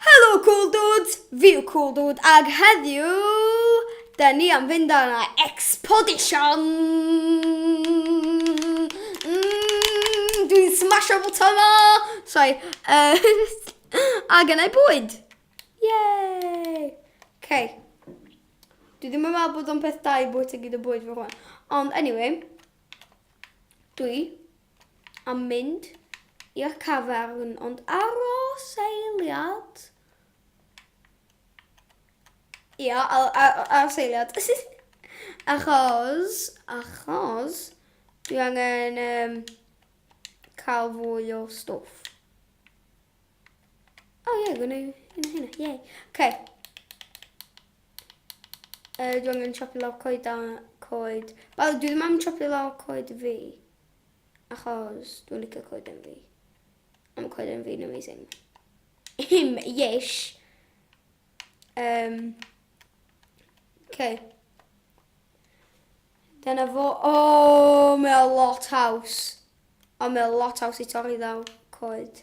Helo Cool Dudes, fi yw Cool Dude ag heddiw da ni am fynd ar yna Expedition! Mm, dwi'n smasho bwton o! Sorry. Uh, a gynnau bwyd! Yay! Okay. Dwi ddim yn meddwl bod o'n peth da i bwyta gyd o bwyd fy hwn. Ond anyway, dwi a mynd i'r cafern ond aros eiliad. Ia, aros eiliad. achos, achos, dwi angen um, cael fwy o stwff. O oh, ie, yeah, gwneud hynna, hynna, ie. Yeah. Okay. Uh, dwi angen chopi lawr coed a coed. Wel, dwi ddim am chopi lawr coed fi. Achos dwi'n licio coeden fi. A mae coeden fi'n amazing. Him, yesh. Um, okay. Dyna fo. O, oh, mae lot haws. O, mae lot haws i torri ddaw coed.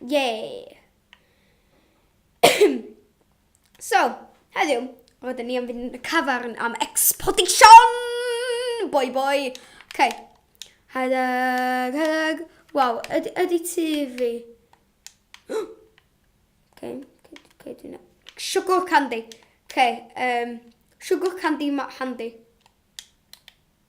Yay! so, heddiw, roedden ni am fynd yn y cafarn am exportation! Boi boi! Okay. Hedeg, hedeg. Waw, ydy, ydy tu fi. okay, okay, okay, dwi'n... Sugar candy. Okay, um, sugar candy ma handy.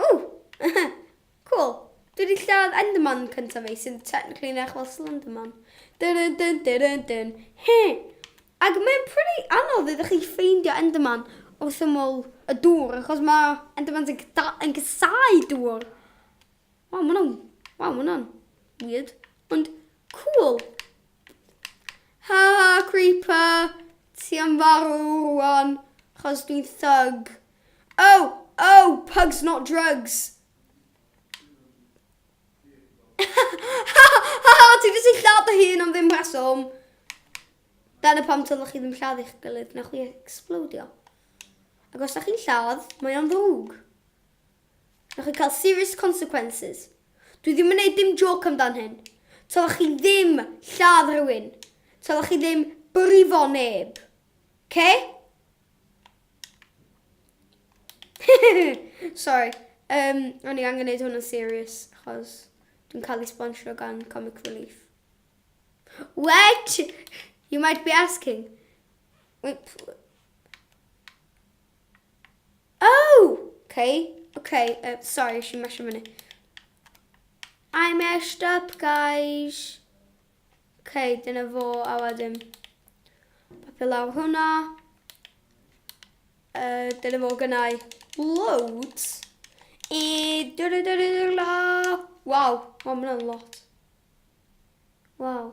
Ww! Cŵl! Dwi wedi lladd Enderman cyntaf fi sy'n technically yn edrych fel Slenderman. Dun dun dun dun dun dun. He! Ac mae'n pretty anodd iddo chi ffeindio Enderman wrth ymyl y dŵr achos mae Endermans yn, gyda, yn cysau dŵr. Waw, mae hwnna'n... Waw, mae hwnna'n weird. Ond Cŵl! Ha ha Creeper, ti am farw rwan 'chos dwi'n thug? Oh! Oh! Pugs not drugs! Ha ha ha ha! Ti di sillaw dy hun am ddim rheswm! Dyna pam tyloch chi ddim lladd eich gilydd, na chwi explodio. Ac os da chi'n lladd, mae o'n ddrwg. Na chwi cael serious consequences. Dwi ddim yn neud dim jôc amdan hyn. Tylech chi ddim lladd rhywun. Tylech chi ddim brifo neb. Oce? Sorry. Um, o'n i angen neud hwn yn serious, achos dwi'n cael ei sponsio gan Comic Relief. What? You might be asking. Wait, Oh! Ok, ok, uh, sorry, eisiau i mesio fyny. I meshed up, guys. Ok, dyna fo, a wedyn. Papio lawr hwnna. Uh, dyna fo gynnau loads. E, dyna dyna dyna. Wow, wow, mae'n lot. Wow.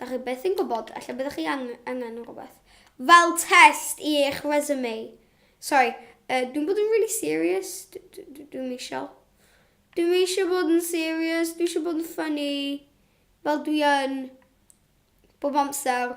Da chi beth yn gwybod, allai byddwch chi angen rhywbeth. Fel test i eich resume. Sorry, uh, dwi'n bod yn really serious. Dwi'n eisiau. Dwi'n eisiau bod yn serious, dwi'n eisiau bod yn funny. Fel dwi yn bob amser.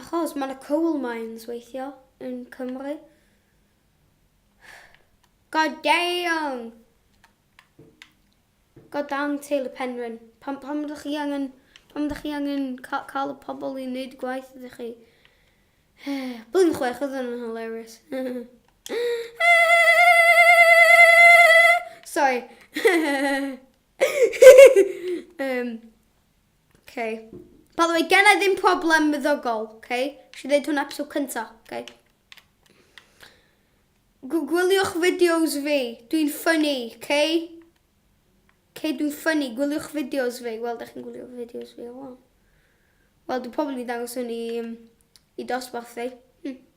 Achos mae yna coal mines weithio yn Cymru. God damn! God damn teulu Penrhyn. Pam, pam ydych chi angen, pam ydych chi angen ca cael y pobl i wneud gwaith ydych chi? Blwyddyn chwech oedd yn hilarious. Sorry. um, Okay. By the way, gen i ddim problem myddogol, okay? Si ddeud hwnna episode cynta, okay? Gwyliwch fideos fi, dwi'n ffynnu, okay? Okay, dwi'n ffynnu, gwyliwch fideos fi. Wel, da chi'n gwylio fideos fi o wan. Wel, dwi'n probably ddangos hwn i, um, i dosbarth fi. Hmm.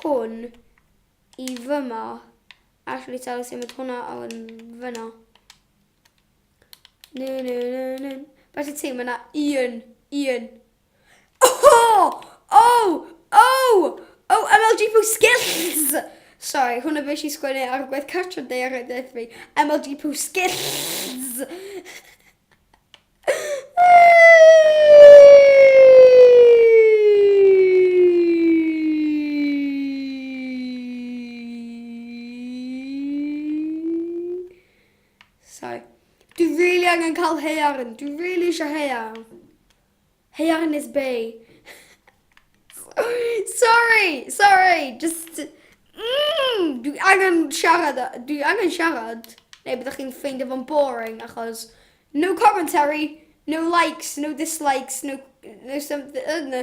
hwn i fyma. Actually, tell us symud hwnna o yn fyna. Nyn, nyn, nyn, nyn. Felly ti, mae yna un, un. Oh! Oh! Oh! Oh, MLG Poo Skills! Sorry, hwnna fe si sgwennu ar gwaith cartref neu ar edrych fi. MLG Poo Skills! Sorry. Dwi really angen cael haearn. Dwi really eisiau haearn. Hyannis Bay. Sorry, sorry, just... Mm, dwi angen siarad, dwi angen siarad. Neu byddwch chi'n ffeindio fo'n boring achos no commentary, no likes, no dislikes, no, no something, uh, no.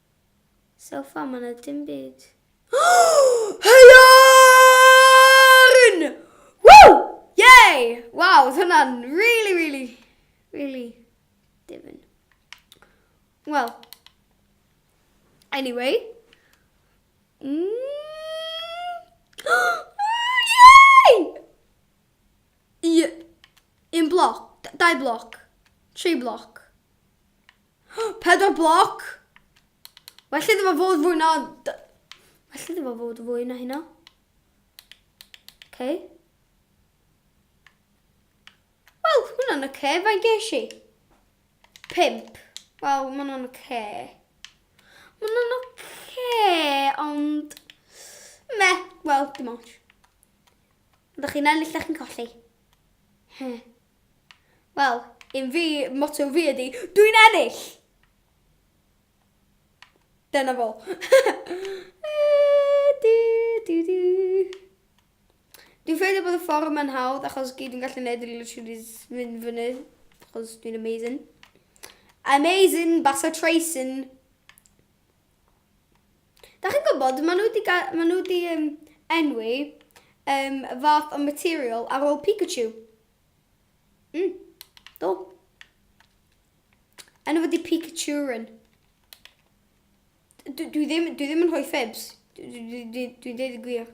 So far ma na dim byd. Haearn! Woo! Yay! Waw, oedd hwnna'n really, really, really difyn. Wel, anyway. Mm. Yay! Un bloc, dau bloc, tri bloc. Pedwar bloc! Well iddo fo fod fwy na... Well iddo fo fod fwy na hynna. Okay. Wel, hwnna'n y ce, fain geis i? Pimp. Wel, mae hwnna'n y ce. Mae hwnna'n y ce, ond... Me, wel, dim ond. Ydych chi'n ennill, ydych chi'n colli. He. Wel, un fi, motto fi ydi, dwi'n ennill! Dyna fo. Dwi'n ffeindio bod y ffordd yma'n hawdd achos gyd dwi'n gallu gwneud ydy literally mynd fyny achos dwi'n amazing. Amazing, basa Tracyn. Da chi'n gwybod, maen nhw wedi, maen nhw wedi um, enwi um, fath o material ar ôl Pikachu. Mm, do. Enw wedi Pikachurin. Dwi, dwi, ddim, dwi ddim yn rhoi ffibs. Dwi, dwi, dwi, dwi dweud y gwir.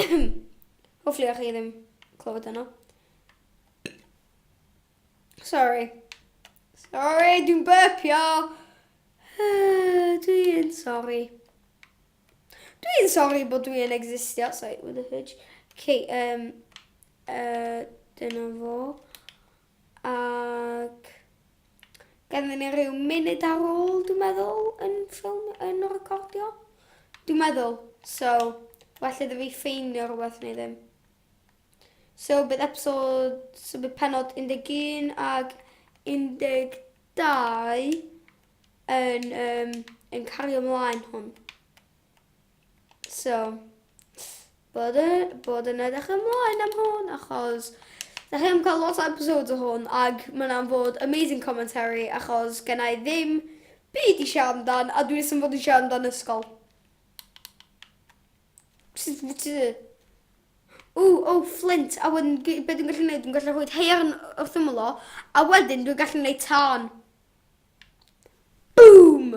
Hopefully o'ch chi ddim clywed yno. Sorry. Sorry, dwi'n burpio. dwi'n sorry. Dwi'n sorry bod dwi'n existio. Sorry, with a fudge. Okay, um, uh, dyna fo. ac ganddo ni rhyw munud ar ôl dwi'n meddwl yn ffilm yn y recordio. Dwi'n meddwl, so well iddo fi ffeinio rhywbeth neu ddim. So bydd episod, so bydd penod 11 ag 12 yn, um, yn cario ymlaen hwn. So, bod yn, bod yn edrych ymlaen am hwn, achos da chi am cael lot o episodes o hwn, ac mae'n am bod amazing commentary, achos gen i ddim byd i siarad amdan, a dwi'n sy'n fod i siarad amdan ysgol. O, o, Flint, a wedyn, beth dwi'n gallu gwneud? Dwi'n gallu rhoi heirn wrth ymwyl o, a wedyn dwi'n gallu gwneud tân. Boom!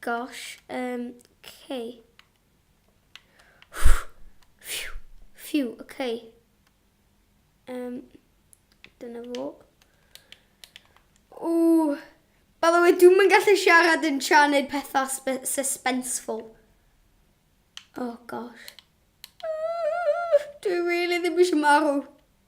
Gosh, um, okay. Phew, phew, okay. Um, dyna fo. O, by the way, dwi'n mynd gallu siarad yn tra neud pethau suspenseful. Oh gosh. Dwi really ddim eisiau marw.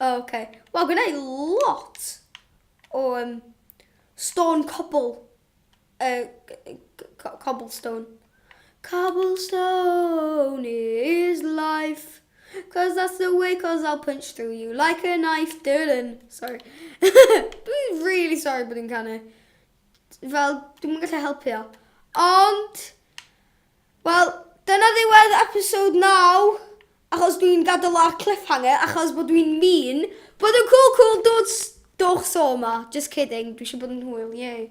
Oh, okay. Wel, gwna i lot o um, stone cobble. Uh, cobblestone. Cobblestone is life. Cause that's the way, cause I'll punch through you like a knife. Dylan. Sorry. Dwi'n really sorry bod i'n canu. Fel, dwi'n gallu helpu o. Ond, Wel, dyna ddiwedd episode 9 achos dwi'n gadael ar cliffhanger achos bod dwi'n mean. Bod yn cŵl cŵl dudes! Dowch so 'ma. Just kidding, dwi eisiau bod yn hwyl, yay.